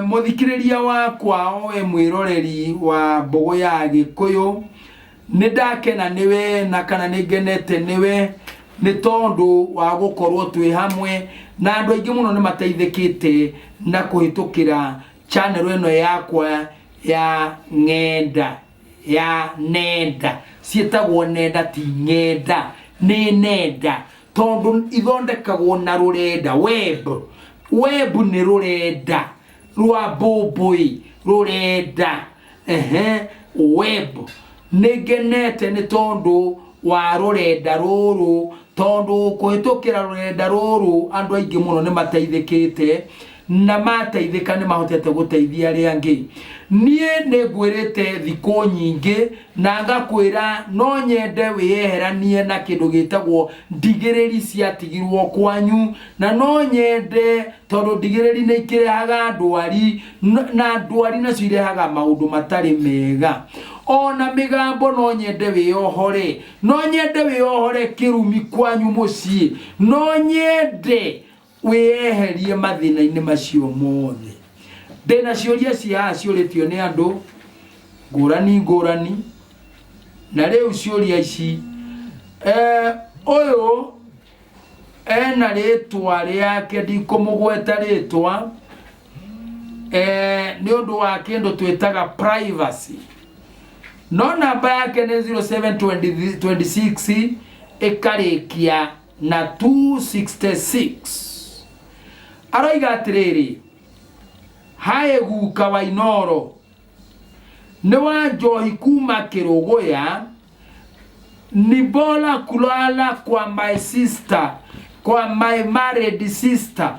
Mũthikĩrĩria wakwa o we mwĩroreri wa Mbũgũ ya Gĩkũyũ, nĩ ndakena nĩwe na kana nĩ ngenete nĩwe nĩ tondũ wa gũkorwo twĩ hamwe na andũ aingĩ mũno nĩ mateithĩkĩte na kũhĩtũkĩra channel ĩno yakwa ya Ng'enda. ya nenda ciĩtagwo nenda ti ng'enda nĩ nenda tondũ ithondekagwo na rũrenda web web nĩ rũrenda rwa mbũmbũĩ rũrenda ehe web nĩ ngenete nĩ tondũ wa rũrenda rũrũ tondũ kũhĩtũkĩra rũrenda rũrũ andũ aingĩ mũno nĩ mateithĩkĩte na mateithĩka nĩ mahotete gũteithia arĩa angĩ. Niĩ nĩ ngwĩrĩte thikũ nyingĩ na ngakwĩra no nyende wĩyeheranie na kĩndũ gĩtagwo ndigĩrĩri ciatigirwo kwanyu, na no nyende tondũ ndigĩrĩri nĩ ikĩrehaga ndwari, na ndwari nacio irehaga maũndũ matarĩ mega. Ona mĩgambo no nyende wĩyohore, no nyende wĩyohore kĩrumi kwanyu mũciĩ, no nyende Wĩyeherie mathĩna-inĩ macio mothe. Ndĩ na ciũria cia a ciũrĩtio nĩ andũ ngũrani ngũrani, na rĩu ciũria ici, eh, ũyũ ena rĩtwa rĩake ndikũmũgweta rĩtwa eh, nĩ ũndũ wa kĩndũ twĩtaga privacy no namba yake nĩ 0726 ĩkarĩkia na 266 aroiga atĩrĩrĩ haĩ guka wa inoro nĩ wa njohi kuma kĩrũgũya ni bora kulala kwa my sister kwa my married sister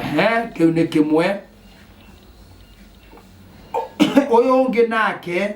ehe kĩu nĩ kĩmwe ũyũ ũngĩ nake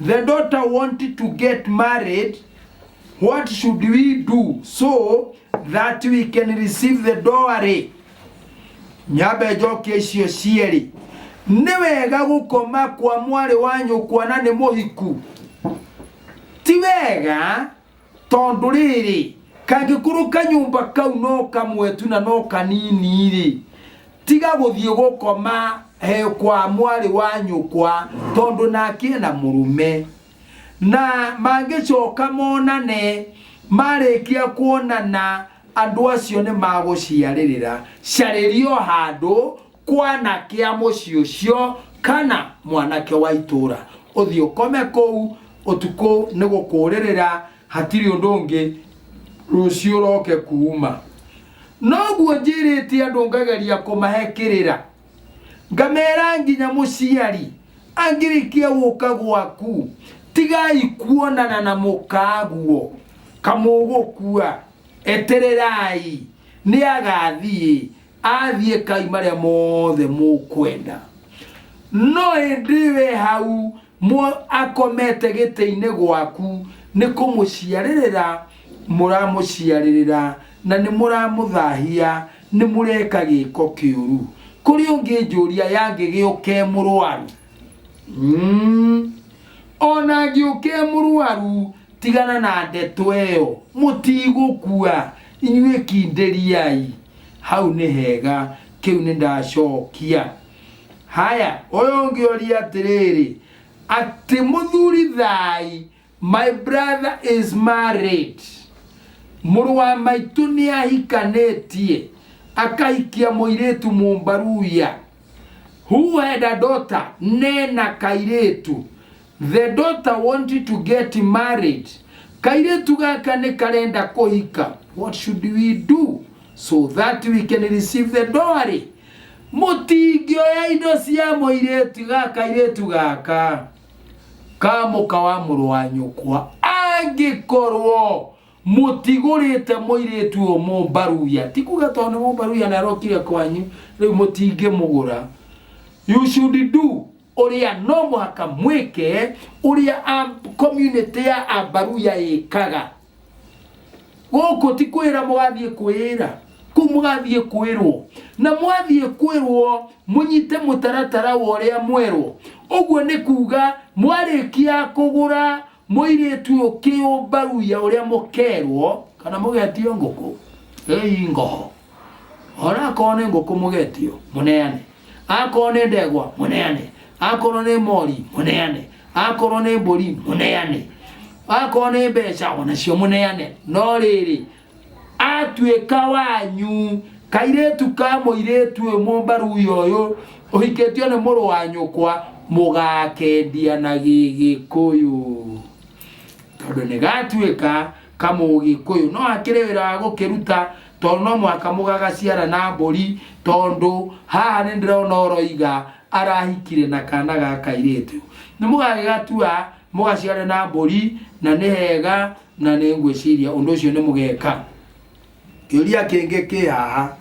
The daughter wanted to get married. What should we do so that we can receive the dowry? Nyambe njokie icio cierĩ. Nĩ wega gũkoma kwa mwarĩ wa nyũkwa na nĩ mũhiku. Ti wega tondũ rĩrĩ kangĩkorwo kanyũmba kau no kamwe tu na no kanini rĩ tiga gũthiĩ gũkoma he kwa mwarĩ wa nyũkwa tondũ nake na mũrũme na mangĩcoka monane marĩkia kuonana andũ acio nĩ magũciarĩrĩra carĩrio handũ kwana kĩa mũciĩ ũcio kana mwanake wa itũũra ũthiĩ ũkome kũu ũtukũ nĩ gũkũũrĩrĩra hatirĩ ũndũ ũngĩ rũciũ ũroke kuuma noguo njĩrĩte andũ ngageria kũmahe kĩrĩra ngamera nginya mũciari angĩrĩkia gũka gwaku tigai kuonana na mũkaguo kamũgũkua etererai nĩ agathiĩ athiĩ kai marĩa mothe mũkwenda no ĩndĩ we hau mũ- akomete gĩtĩ-inĩ gwaku nĩ kũmũciarĩrĩra mũramũciarĩrĩra na nĩ mũramũthahia nĩ mũreka gĩko kĩũru kũrĩ ũngĩ njũria yangĩgĩũke mũrwaru Mm. ona ngĩũke mũrwaru tigana na ndeto ĩyo mũtigũkua inyuĩ kindĩriai hau nĩ hega kĩu nĩ ndacokia haya ũyũ ũngĩ ũria atĩrĩrĩ atĩ mũthuri thai my brother is married mũrũ wa maitũ nĩ ahikanĩtie akahikia mũirĩtu mũmbaruya who had a daughter nena kairĩtu The daughter wanted to get married. Kairĩtu gaka nĩ karenda kũhika. What should we do so that we can receive the dowry? Mũtingĩoya indo cia mũirĩtu ga kairĩtu gaka ka mũka wa mũrũ wa nyũkwa angĩkorwo mũtigũrĩte mũirĩtu ũyũ mũmbaruya ti kuga tondũ nĩ mũmbaruya na arokire kwanyu rĩu mũtingĩmũgũra you should do ũrĩa no mũhaka mwĩke ũrĩa community ya ambaruya ĩkaga gũkũ ti kwĩra mũgathiĩ kwĩra kũu mũgathiĩ kwĩrwo na mwathiĩ kwĩrwo mũnyite mũtaratara wa ũrĩa mwerwo ũguo nĩ kuga mwarĩkia kũgũra Mũirĩtu ũyũ kĩũmbaruya ũrĩa mũkerwo kana mũgetio ngũkũ ĩi ngoho ona akorwo nĩ ngũkũ mũgetio mũneane akorwo nĩ ndegwa mũneane akorwo nĩ mori mũneane akorwo nĩ mbũri mũneane akorwo nĩ mbeca onacio mũneane no rĩrĩ atuĩka wanyu kairĩtu ka mũirĩtu ũyũ mũmbaruya ũyũ ũhikĩtio nĩ mũrũ wa nyũkwa mũgakendia na gĩgĩkũyũ tondũ nĩ gatuĩka kamũgĩkũyũ no hakĩrĩ wĩra wa gũkĩruta tondũ no mwaka mũgagaciara na mbũri tondũ haha nĩ ndĩrona ũroiga arahikire na kana ga kairĩtu nĩ mũgagĩgatua mũgaciare na mbũri na nĩ hega na nĩ ngwĩciria ũndũ ũcio nĩ mũgeka kĩũria kĩngĩ kĩ haha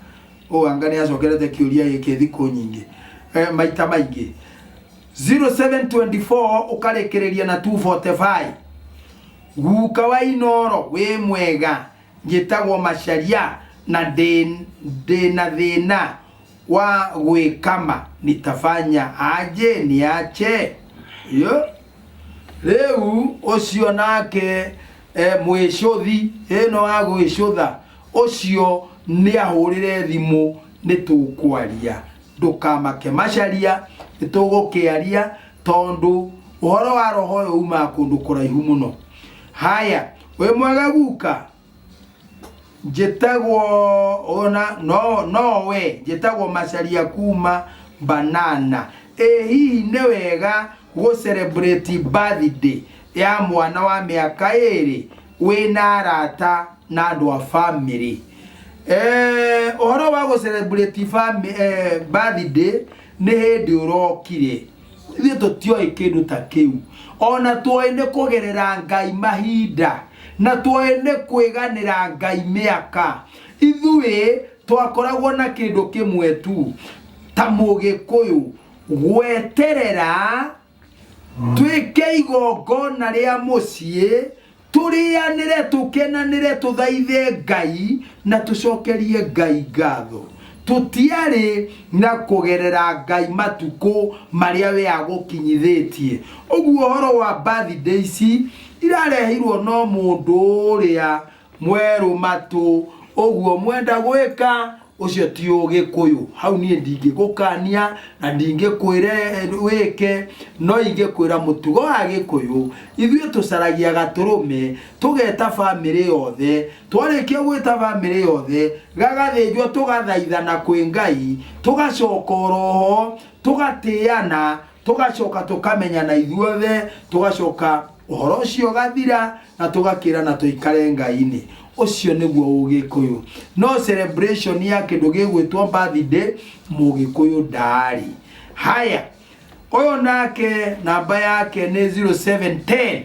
ũanga nĩ acokerete kĩũria gĩkĩ thikũ nyingĩ eh, maita maingĩ 0724 ũkarĩkĩrĩria na 245 guka wa inoro wĩ mwega njĩtagwo macaria na ndĩ- ndĩna thĩna wa gwikama nitafanya aje niache yo riu ucio nake e, mwicuthi ino wa gwicutha ucio niahurire thimu nitukwaria ndukamake macaria nitugukiaria tondu uhoro wa roho uyu umaga kundu kuraihu muno haya wi mwega guka njĩtagwo ona no no we njĩtagwo macaria kuma banana ĩ hihi nĩ wega gũ celebrate birthday ya mwana wa mĩaka ĩrĩ wĩna arata na andũ a family Eh, ũhoro wa gũ celebrate fami- eh, birthday nĩ hĩndĩ ũrokire ithuĩ tũtioĩ kĩndũ ta kĩu ona tuoĩ nĩ kũgerera ngai mahinda na tuoĩ nĩ kwĩganĩra ngai mĩaka ithuĩ twakoragwo na kĩndũ kĩmwe tu ta mũgĩkũyũ gweterera twĩke igongona rĩa mũciĩ tũrĩanĩre tũkenanĩre tũthaithe ngai na tũcokerie ngai ngatho tũtiarĩ na kũgerera ngai matukũ marĩa we agũkinyithĩtie ũguo ũhoro wa birthday ici irareheirwo no mũndũ ũrĩa mwerũ matũ ũguo mwenda gwĩka ũcio ti ũgĩkũyũ hau niĩ ndingĩgũkania na ndingĩkwĩre wĩke no ingĩkwĩra mũtugo wa gĩkũyũ ithuĩ tũcaragia gatũrũme tũgeta bamĩrĩ yothe twarĩkia gwĩta bamĩrĩ yothe gagathĩnjwo tũgathaithana kwĩ ngai tũgacoka oroho tũgatĩana tũgacoka tũkamenya na ithuothe tũgacoka ũhoro ũcio ũgathira na tũgakĩra na tũikare ngai-inĩ ũcio nĩguo ũgĩkũyũ no celebration ya kĩndũ gĩgwĩtwo birthday mũgĩkũyũ ndaarĩ haya ũyũ nake namba yake nĩ 0710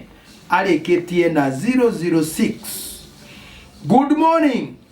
arĩkĩtie na 006 good morning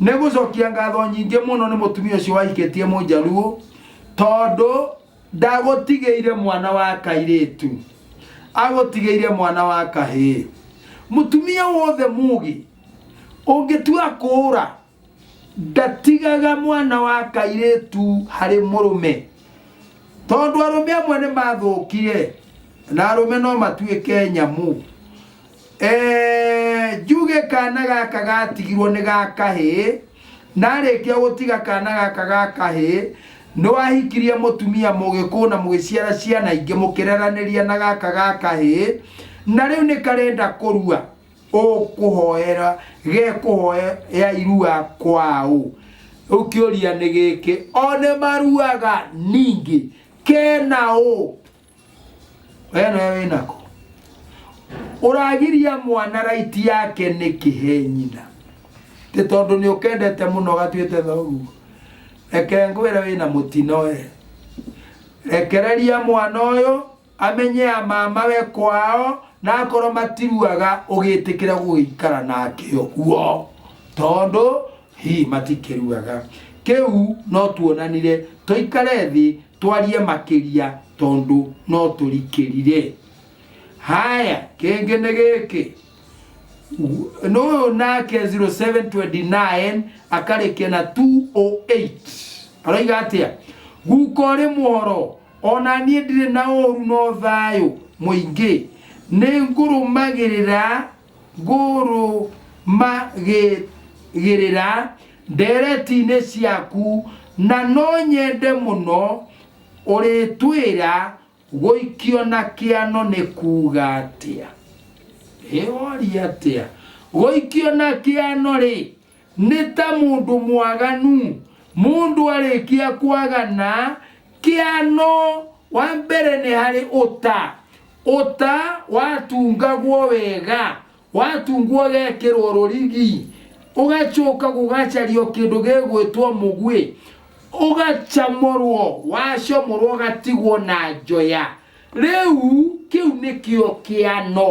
nĩ gũcokia ngatho nyingĩ mũno nĩ mũtumia ũcio wahikĩtie mũnjaruo tondũ ndagũtigĩire mwana wa kairĩtu agũtigĩire mwana wa kahĩĩ mũtumia wothe mugi ũngĩtua kũũra ndatigaga mwana wa kairĩtu harĩ mũrũme tondũ arũme amwe nĩ mathũkire na arũme no matuĩke nyamũ Eh, njuge kana gaka gatigirwo nĩ ga kahĩ narĩkia gũtiga kana gaka ga kahĩ nĩ wahikirie mũtumia mũgĩkũ na mũgĩciara ciana ingĩ mũkĩreranĩria na gaka ga kahĩ na rĩu nĩ karenda kũrua ũkũhoera gekũhoya irua kwaũ rĩu kĩũria nĩ gĩkĩ o nĩ maruaga ningĩ kena ũ we nawe wĩ nako ũragiria mwana raiti yake nĩ kĩhe nyina ĩ tondũ nĩ ũkendete mũno gatuĩte thoguo reke ngwĩre wĩ na mũtino we rekereria mwana ũyũ amenye ya mama we kwao na akorwo matiruaga ũgĩtĩkĩra gũgĩikara nake ũguo tondũ Hi, matikirugaga. Kiu no tuonanire toikare thi twarie makiria tondu no turikirire. Haya, kingi ni giki. Nuyu nake 0729 akarikia na 208. Aroiga atia? Guka uri muhoro ona nie ndire na uru no thayo muingi. Ni ngurumagirira ngũrũmagĩrĩra ndeereti-inĩ ciaku, na no nyende mũno ũrĩtwĩra gũikio na kĩano nĩ kuuga atĩa. Ĩ woria atĩa? Gũikio na kĩano-rĩ, Nĩ ta mũndũ mwaganu, mũndũ arĩkia kwagana, kĩano wa mbere nĩ harĩ ũta. Ũta watungagwo wega, watungwo ũgekĩrwo rũrigi, ũgacoka gũgacario kĩndũ gĩgwĩtwo mũguĩ, ũgacamũrwo, wacamũrwo ũgatigwo na njoya. Rĩu kĩu nĩkĩo kĩano.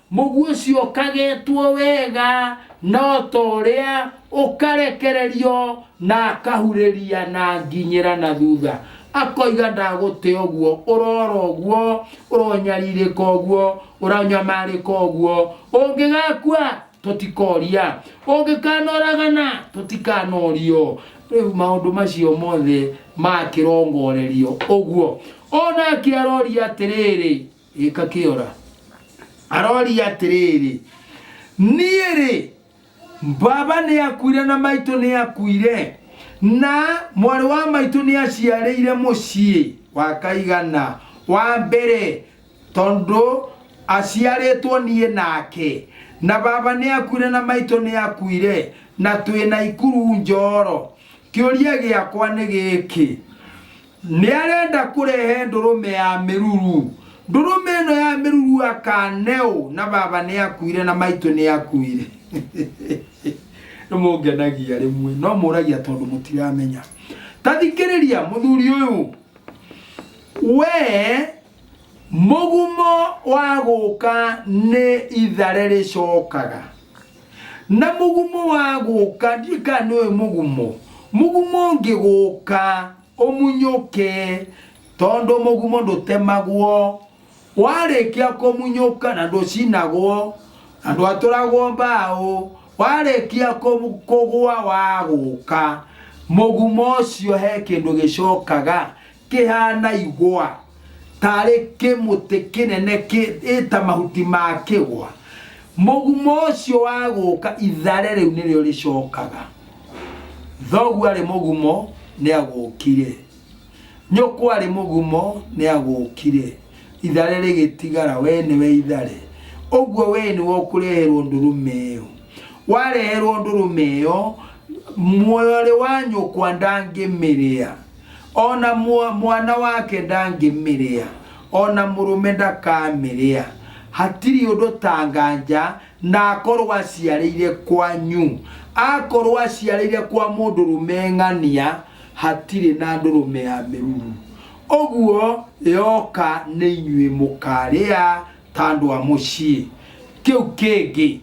Mũguĩ ũcio ũkagetwo wega na o ta ũrĩa ũkarekererio na akahurĩria na nginyĩra na thutha. Akoiga ndagũte ũguo, ũrora ũguo, ũronyarirĩka ũguo, ũranyamarĩka ũguo. Ũngĩgakua tũtikoria, ũngĩkanoragana tũtikanorio. Rĩu maũndũ macio mothe makĩrongorerio ũguo. O nake aroria atĩrĩrĩ. Gĩka kĩora. Aroria atĩrĩrĩ, niĩ rĩ, baba nĩ akuire na maitũ nĩ akuire, na mwarĩ wa maitũ nĩ aciarĩire mũciĩ wa kaigana wa mbere, tondũ aciarĩtwo niĩ nake, na baba nĩ akuire na maitũ nĩ akuire, na twĩ na ikuru njoro. Kĩũria gĩakwa nĩ gĩkĩ, Nĩ arenda kũrehe ndũrũme ya mĩruru. Ndũrũme ĩno ya mĩruru akaneũ na baba nĩ akuire na maitũ nĩ akuire. Nĩ mũngenagia rĩmwe no mũragia tondũ mũtiramenya. Ta thikĩrĩria mũthuri ũyũ we mũgumo wa gũka nĩ ithare rĩcokaga. Na mũgumo wa gũka, ndiũĩ kana nĩ ũyũ mũgumo, mũgumo ũngĩgũka ũmunyũke, tondũ mũgumo ndũtemagwo, warĩkia kũmunyũka na ndũcinagwo, na ndwatũragwo mbaũ, warĩkia kũmu- kũgũa wagũka, mũgumo ũcio he kĩndũ gĩcokaga, kĩhaana igwa, tarĩ kĩmũtĩ kĩnene ĩta mahuti ma kĩgwa. Mũgumo ũcio wa gũka ithare rĩu nĩrĩo rĩcokaga. Thoguo arĩ mũgumo nĩagũkire. Nyũkwa arĩ mũgumo nĩagũkire. Ithare rĩgĩtigara, wee nĩwe ithare. Ũguo wee nĩwe ũkũreherwo ndũrũme ĩyo. Wareherwo ndũrũme ĩyo, mwarĩ wa nyũkwa ndangĩmĩrĩa. o na mwa- mwana wake ndangĩmĩrĩa o na mũrũme ndakamĩrĩa hatirĩ ũndũ ta nganja na akorwo aciarĩire kwanyu akorwo aciarĩire kwa mũndũrũme ng'ania hatirĩ na ndũrũme ya mĩruru ũguo yoka nĩ inyuĩ mũkarĩa ta andũ a mũciĩ kĩu kĩngĩ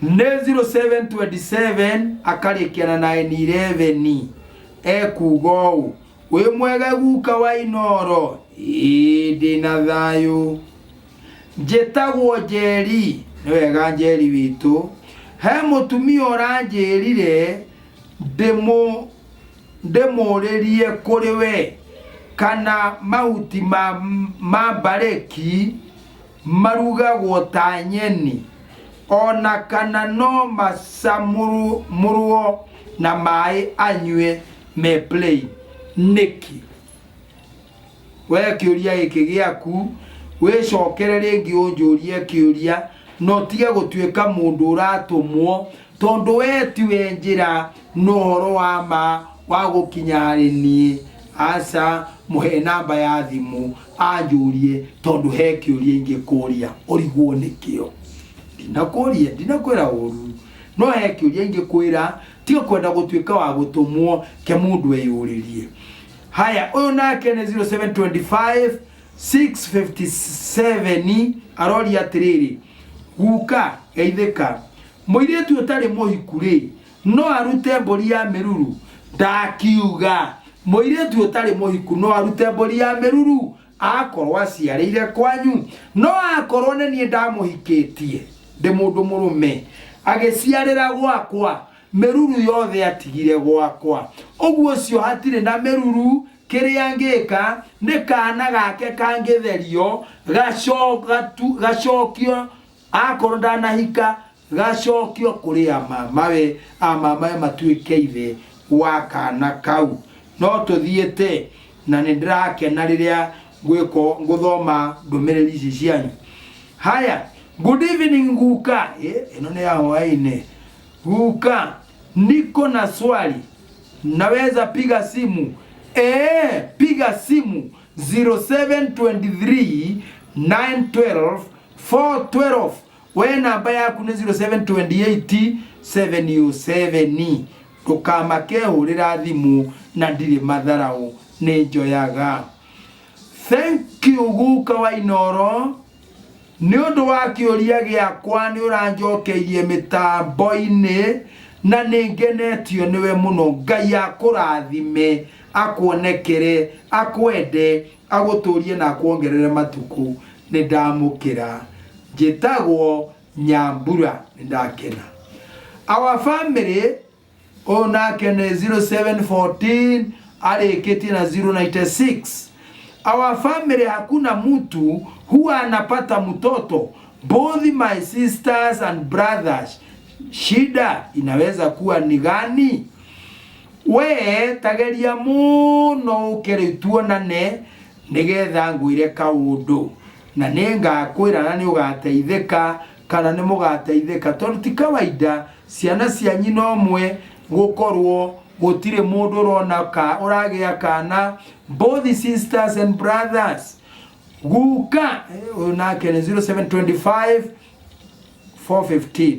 nä 0727 akarĩkia na 911 ekuga ũũ wĩ mwega guka wa inoro ĩĩ ndĩ na thayũ njĩtagwo njeri nĩ wega njeri witũ he mũtumia ũranjĩrire ndĩmũ ndĩmũrĩrie kũrĩ we kana mahuti ma, ma mbarĩki marugagwo ta nyeni ona kana no macamũrwo na maĩ anyue me plain nĩkĩ we kĩũria gĩkĩ gĩaku wĩcokere rĩngĩ ũnjũrie kĩũria na ũtige gũtuĩka mũndũ ũratũmwo tondũ we tiwe njĩra Nohoro wa ma wa gũkinya harĩ niĩ? Aca, mũhe namba ya thimũ anjũrie tondũ he kĩũria ingĩkũria ũrigwo nĩkĩo. Ndinakũria, ndinakwĩra ũru, no he kĩũria ingĩkwĩra tiga kwenda gũtuĩka wa gũtũmwo ke mũndũ eyũrĩrie. Haya, ũyũ nake nĩ 0725 657 aroria atĩrĩrĩ, guka geithĩka, mũirĩtu ũtarĩ mũhiku rĩ, No arute mbũri ya mĩruru? Ndakiuga. Mũirĩtu ũtarĩ mũhiku no arute mbũri ya mĩruru akorwo aciarĩire kwanyu? No akorwo nĩ niĩ ndamũhikĩtie ndĩ mũndũ mũrũme agĩciarĩra gwakwa, mĩruru yothe atigire gwakwa. Ũguo ũcio hatirĩ na mĩruru, kĩrĩa ngĩka nĩ kaana gake kangĩtherio gacokio akorwo ndanahika Gacokio kũrĩ amamawe, amamawe matuĩke ithe wa kana kau. No tũthiĩte, na nĩ ndĩrakena rĩrĩa ngwĩko ngũthoma ndũmĩrĩri ici cianyu. Haya, good evening guka. Eh, ĩno nĩ ya hwaĩ-inĩ. Guka, niko na swali. Naweza piga simu? Eh, piga simu 0723 912 412. we namba yaku nĩ 072877 ndũkamake hũrĩra thimũ na ndirĩ matharaũ nĩ njoyaga thank you guka wa inoro nĩ ũndũ wa kĩũria gĩakwa nĩ ũranjokeirie mĩtambo-inĩ na nĩ ngenetio nĩwe mũno ngai akũrathime akuonekere akwende agũtũrie na akwongerere matukũ nĩndamũkĩra njĩtagwo Nyambura nĩndakena our family ũyũ nake nĩ 0714 arĩkĩtie na 096 our family hakuna mtu huwa anapata mtoto both my sisters and brothers shida inaweza kuwa ni gani we tageria mũno ũkere tuonane nĩgetha ngwĩre kaũndũ na nĩ ngakwĩra na nĩ ũgateithĩka kana nĩ mũgateithĩka tondũ ti kawaida ciana cianyu no mwe gũkorwo gũtirĩ mũndũ ũrona ka ũragĩa kana both sisters and brothers guka eh, ũyũ nake nĩ 0725 415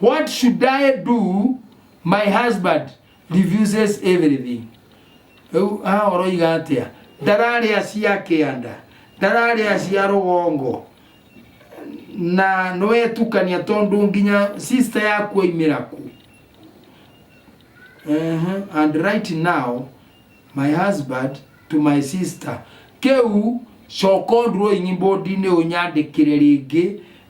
What should I do? My husband refuses everything. Rĩu haha ũroiga atĩa? Ndararĩa cia kĩanda, ndararĩa cia rũgongo na nĩwetukania tondũ nginya sister yaku aimĩra ku. Uh-huh. And right now my husband to my sister kĩu coka ũndũ ũyũ nyimbo ndinĩ ũnyandĩkĩre rĩngĩ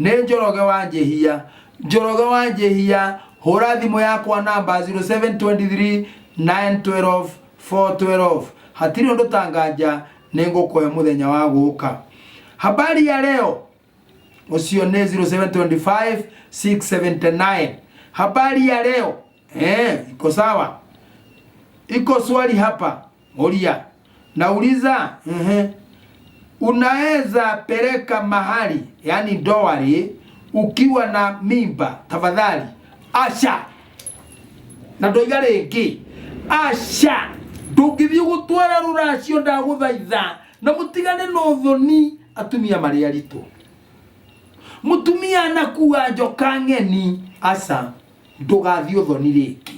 Nĩ Njoroge wa Njĩhia. Njoroge wa Njĩhia, hũra thimũ yakwa namba 0723912412. Hatirĩ ũndũ ta nganja, nĩ ngũkũhe mũthenya wa gũka. Habari ya leo, ũcio nĩ 0725679. Habari ya leo, eh, iko sawa? Iko swali hapa. Moria, nauliza Ehe. unaweza peleka mahali yani dowari ukiwa na mimba tafadhali asha na ndoiga rĩngĩ asha ndũngĩthiĩ gũtwara rũracio ndagũthaitha na mũtigane na ũthoni atumia marĩ aritũ mũtumia anakua njoka ng'eni aca ndũgathiĩ ũthoni rĩngĩ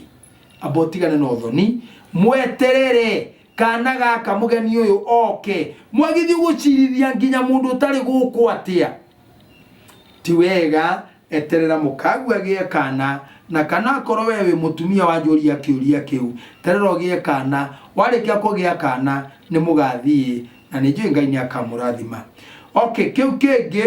amba ũtigane na ũthoni mweterere kana gaka mũgeni ũyũ oke mwagithiĩ gũcirithia nginya mũndũ ũtarĩ gũkũ atĩa ti wega eterera mũkagu agĩe kana na kana akorwo we wĩ mũtumia wanjũria kĩũria kĩu terera ũgĩe kana warĩkia kũgĩa kana nĩ mũgathiĩ na nĩ njũĩ ngai nĩ akamũrathima okay kĩu kĩngĩ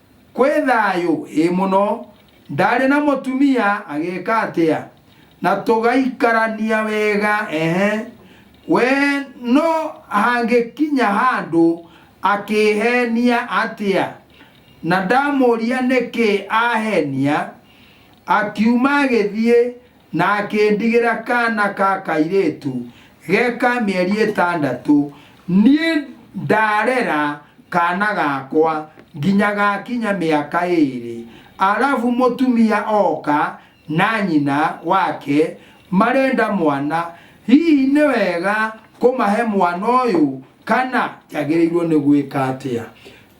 Kwĩ thayũ? Ĩĩ mũno. Ndarĩ na mũtumia? Agĩka atĩa? Na tũgaikarania wega? Ehe. We no hangĩkinya handũ akĩhenia atĩa? Na ndamũria nĩkĩ ahenia, akiuma agĩthiĩ Na akĩndigĩra kaana ka kairĩtu ge ka mĩeri ĩtandatũ, niĩ ndarera kaana gakwa nginya gakinya mĩaka ĩĩrĩ. Arabu mũtumia oka na nyina wake marenda mwana. Hihi nĩ wega kũmahe mwana ũyũ kana njagĩrĩirwo nĩ gwĩka atĩa?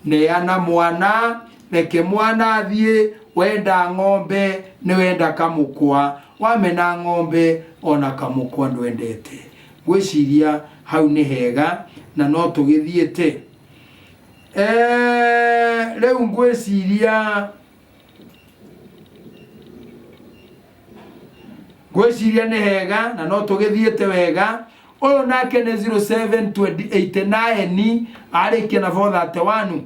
Neana mwana, reke mwana athiĩ, wenda ng'ombe nĩwenda kamũkwa, wamena ng'ombe ona kamũkwa ndwendete. Ngwĩciria hau nĩ hega na no tũgĩthiĩte. Eeh, rĩu ngwĩciria ngwĩciria nĩ hega na no tũgĩthiĩte wega ũyũ nake nĩ 0789 arĩkia na 431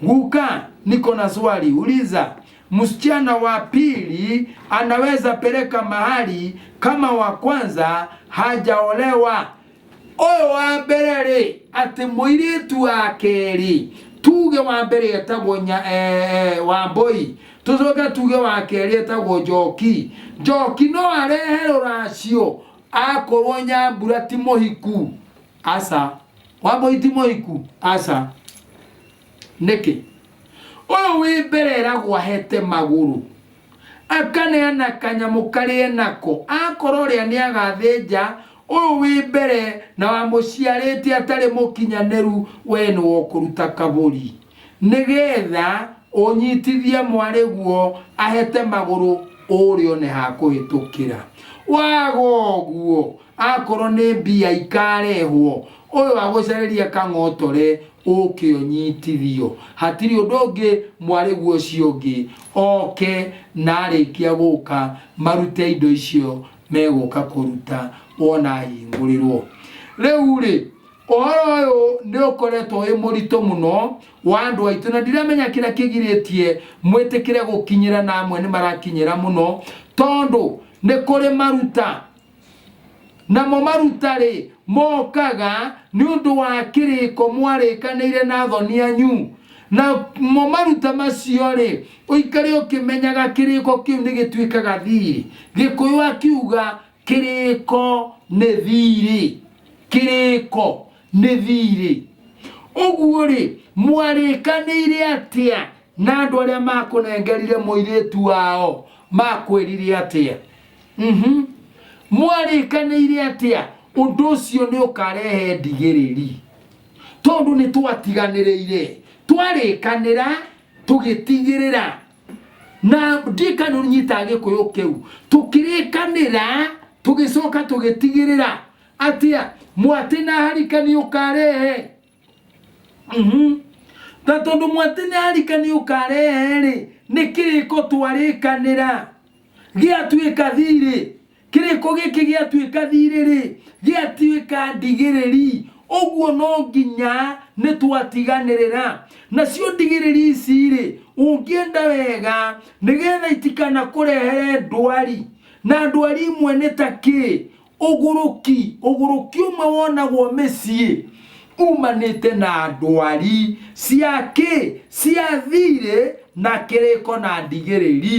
guka niko na swali uliza msichana wa pili anaweza peleka mahali kama wa kwanza hajaolewa ũyũ wa mbere rĩ atĩ mũirĩtu wa kerĩ tuge wa mbere etagwo nya eh, wa mboi tũcoke tuge wa kerĩ etagwo njoki njoki no arehe rũracio akorwo nyambura ti mũhiku aca wa mboi ti mũhiku aca nĩkĩ ũyũ wĩ mbere eragwo ahete magũrũ akaneana kanyamũ karĩa nako akorwo rĩa nĩ agathĩnja Ũyũ wĩ mbere na wamũciarĩte atarĩ mũkinyanĩru wee nĩ wokũruta kabũri nĩ getha ũnyitithie mwarĩguo ahete magũrũ ũrĩ one ha kũhĩtũkĩra. Waga ũguo akorwo nĩ mbia ikarehwo ũyũ agũcarĩrie kang'otore ũke ũnyitithio. Hatirĩ ũndũ ũngĩ mwarĩguo ũcio ũngĩ oke na arĩkia gũka marute indo icio megũka kũruta wona hingũrĩrwo rĩu rĩ ũhoro ũyũ nĩ ũkoretwo wĩ mũritũ mũno wa andũ aitũ na ndiramenya kĩrĩa kĩgirĩtie mwĩtĩkĩre gũkinyĩra na amwe nĩ marakinyĩra mũno tondũ nĩ kũrĩ maruta namo maruta rĩ mokaga nĩ ũndũ wa kĩrĩko mwarĩkanĩire na thoni anyu namo maruta macio rĩ Ũikare ũkĩmenyaga kĩrĩĩko kĩu nĩ gĩtuĩkaga thiirĩ. Gĩkũyũ akiuga kĩrĩĩko nĩ thiirĩ. Kĩrĩĩko nĩ thiirĩ. Ũguo-rĩ, mwarĩĩkanĩire atĩa na andũ arĩa maakũnengerire mũirĩĩtu wao? Maakwĩrire atĩa? Uhum. Mwarĩĩkanĩire atĩa ũndũ ũcio nĩ ũkarehe ndigĩrĩri? Tondũ nĩ twatiganĩrĩire. Twarĩĩkanĩra tũgĩtigĩrĩra na ndikano nyita gĩkũyũ kĩu tũkĩrĩkanĩra tũgĩcoka tũgĩtigĩrĩra atĩa mwatĩ na harika nĩ ũkarehe mhm. na tondũ mwatĩ na harika nĩ ũkarehe rĩ nĩ kĩrĩko twarĩkanĩra gĩatuĩka thirĩ Kĩrĩko gĩkĩ gĩatuĩka thiirĩ-rĩ, gĩatuĩka ndigĩrĩri, ũguo no nginya nĩtwatiganĩrĩra. Nacio ndigĩrĩri ici-rĩ, ũngĩenda wega nĩgetha itikanakũrehere ndwari, na ndwari imwe nĩ ta kĩ? Ũgũrũki, ũgũrũki ũmwe wonagwo mĩciĩ umanĩte na ndwari cia kĩ? Cia thiirĩ na kĩrĩko na ndigĩrĩri.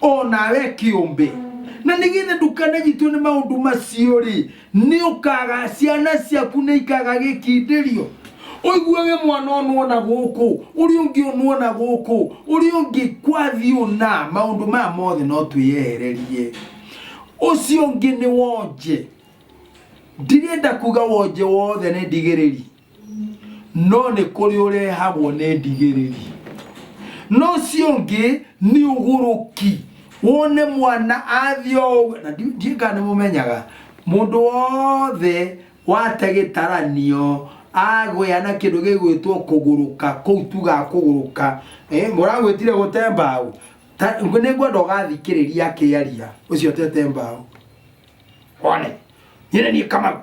o nawe kĩũmbe na nĩgetha ndũkananyitwo nĩ maũndũ macio rĩ nĩ ũkaga ciana ciaku nĩ ikaga gĩkindĩrio ũiguage mwana ũnũ ona gũkũ ũrĩa ũngĩ ũnũ ona gũkũ ũrĩa ũngĩ kwathiĩ ũna maũndũ maya mothe no twĩyehererie ũcio ũngĩ nĩ wonje ndirenda kuga wonje wothe nĩ ndigĩrĩri no nĩ kũrĩ ũrehagwo nĩ ndigĩrĩri no ũcio ũngĩ nĩ ũgũrũki wone mwana athiĩ o ũguo na ndi- ndiũĩ kana nĩ mũmenyaga mũndũ wothe wate gĩtaranio agwĩa na kĩndũ gĩgwĩtwo kũgũrũka kũu tuga kũgũrũka Eh, mũragwĩtire gũte mbaũ Ta- nĩ ngwenda ũgathikĩrĩria akĩaria ũcio ũtete mbaũ one nyine niĩ kama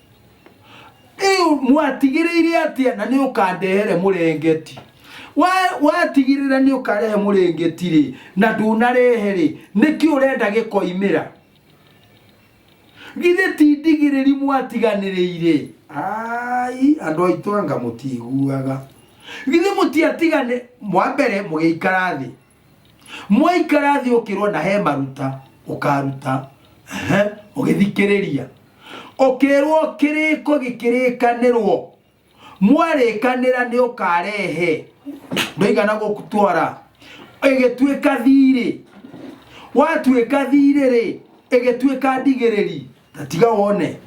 Rĩu mwatigĩrĩire atĩa na nĩ ũkandehere mũrengeti Wa- watigĩrĩra nĩ ũkarehe mũrengeti rĩ na ndũnarehe rĩ nĩkĩ ũrenda gĩkoimĩra githĩ ti ndigĩrĩri mwatiganĩrĩire ai andũ aitũ anga mũtiiguaga githĩ mũtiatigane mwa mbere mũgĩikara thĩ mwaikara thĩ ũkĩrwo na he maruta ũkaruta Ehe, ũgĩthikĩrĩria ũkĩrwo kĩrĩko gĩkĩrĩkanĩrwo mwarĩkanĩra nĩ ũkarehe ndoigana gũtwara ĩgĩtuĩka thirĩ watuĩka thirĩ rĩ ĩgĩtuĩka ndigĩrĩri ta tiga wone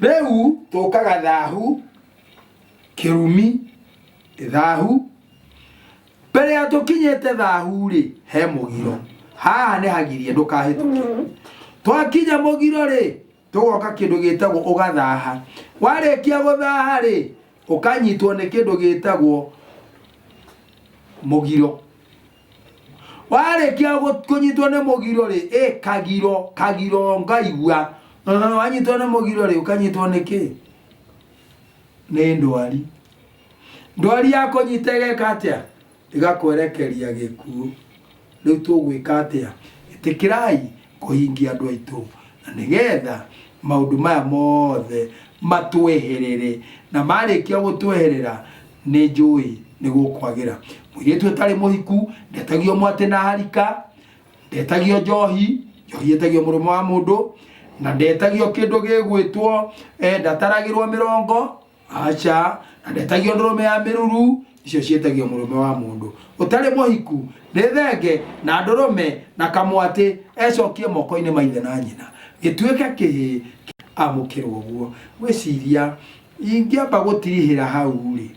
rĩu tũkaga thahu kĩrumi thahu mbere ya tũkinyĩte thahu-rĩ he mũgiro haha nĩ hagirie ndũkahĩtũke twakinya mũgiro-rĩ tũgoka kĩndũ gĩtagwo ũgathaha warĩkia gũthaha-rĩ ũkanyitwo nĩ kĩndũ gĩtagwo mũgiro warĩkia gũ- kũnyitwo nĩ mũgiro rĩ ĩ kagiro kagiro ngaigua Ũhũ, wanyitwo nĩ mũgiro rĩ ũkanyitwo nĩ kĩ nĩ ndwari ndwari yakũnyita ĩgeka atĩa ĩgakwerekeria gĩkuũ rĩu tũgwĩka atĩa ĩtĩkĩrai kũhingia andũ aitũ na nĩgetha maũndũ maya mothe matweherere na marĩkia gũtweherera nĩ njũĩ nĩ gũkwagĩra mũirĩtu ũtarĩ mũhiku ndetagio mwatĩ na harika ndetagio njohi njohi ĩtagio mũrũme wa mũndũ na ndetagio kĩndũ gĩgwĩtwo eh, ndataragĩrwo mĩrongo aca na ndetagio ndũrũme ya mĩruru icio ciĩtagio mũrũme wa mũndũ ũtarĩ mũhiku nĩ thenge na ndũrũme na kamwatĩ ecokie moko-inĩ ma ithe na nyina gĩtuĩke kĩhĩ amũkĩrwo guo wĩciria ingĩamba gũtirihĩra hau rĩ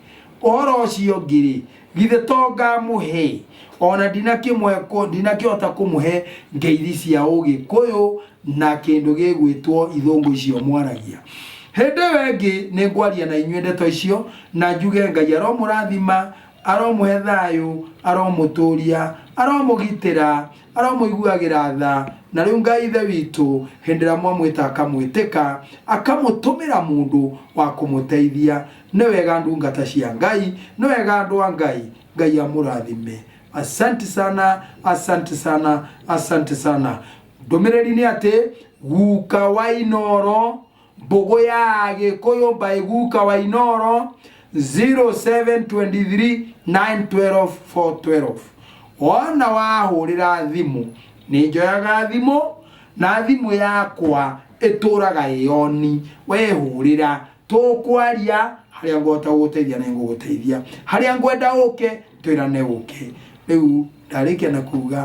ũhoro ũcio ũngĩ rĩ Githĩ to ngamũhe? O na ndinakĩmũhe kũ, ndinakĩhota kũmũhe ngeithi cia Ũgĩkũyũ na kĩndũ gĩgwĩtwo ithũngũ icio mwaragia. Hĩndĩ ĩyo ĩngĩ nĩ ngwaria na inyuĩ ndeto icio, na njuge, Ngai aromũrathima, aromũhe thayũ, aromũtũũria, aromũgitĩra, aromũiguagĩra tha. Na rĩu Ngai Ithe witũ, hĩndĩ ĩrĩa mwamwĩta akamwĩtĩka, akamũtũmĩra mũndũ wa kũmũteithia. Nĩ wega ndungata cia Ngai. Nĩ wega andũ a Ngai. Ngai amũrathime. Asanti sana, asanti sana, asanti sana. Ndũmĩrĩri nĩ atĩ guka wa inoro mbũgũ ya gĩkũyũ by guka wa inoro 0723912412 wona wahũrĩra thimũ nĩ njoyaga thimũ na thimũ yakwa ĩtũraga ĩoni wehũrĩra tũkwaria harĩa ngũhota gũgũteithia nĩ ngũgũteithia harĩa ngwenda ũke twĩrane ũke rĩu ndarĩkia na kuga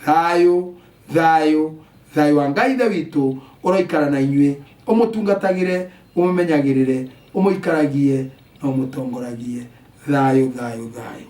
thayũ thayũ thayũ wa ngai ithe witũ ũroikara na inyuĩ ũmũtungatagĩre ũmũmenyagĩrĩre ũmũikaragie na ũmũtongoragie thayũ thayũ thayũ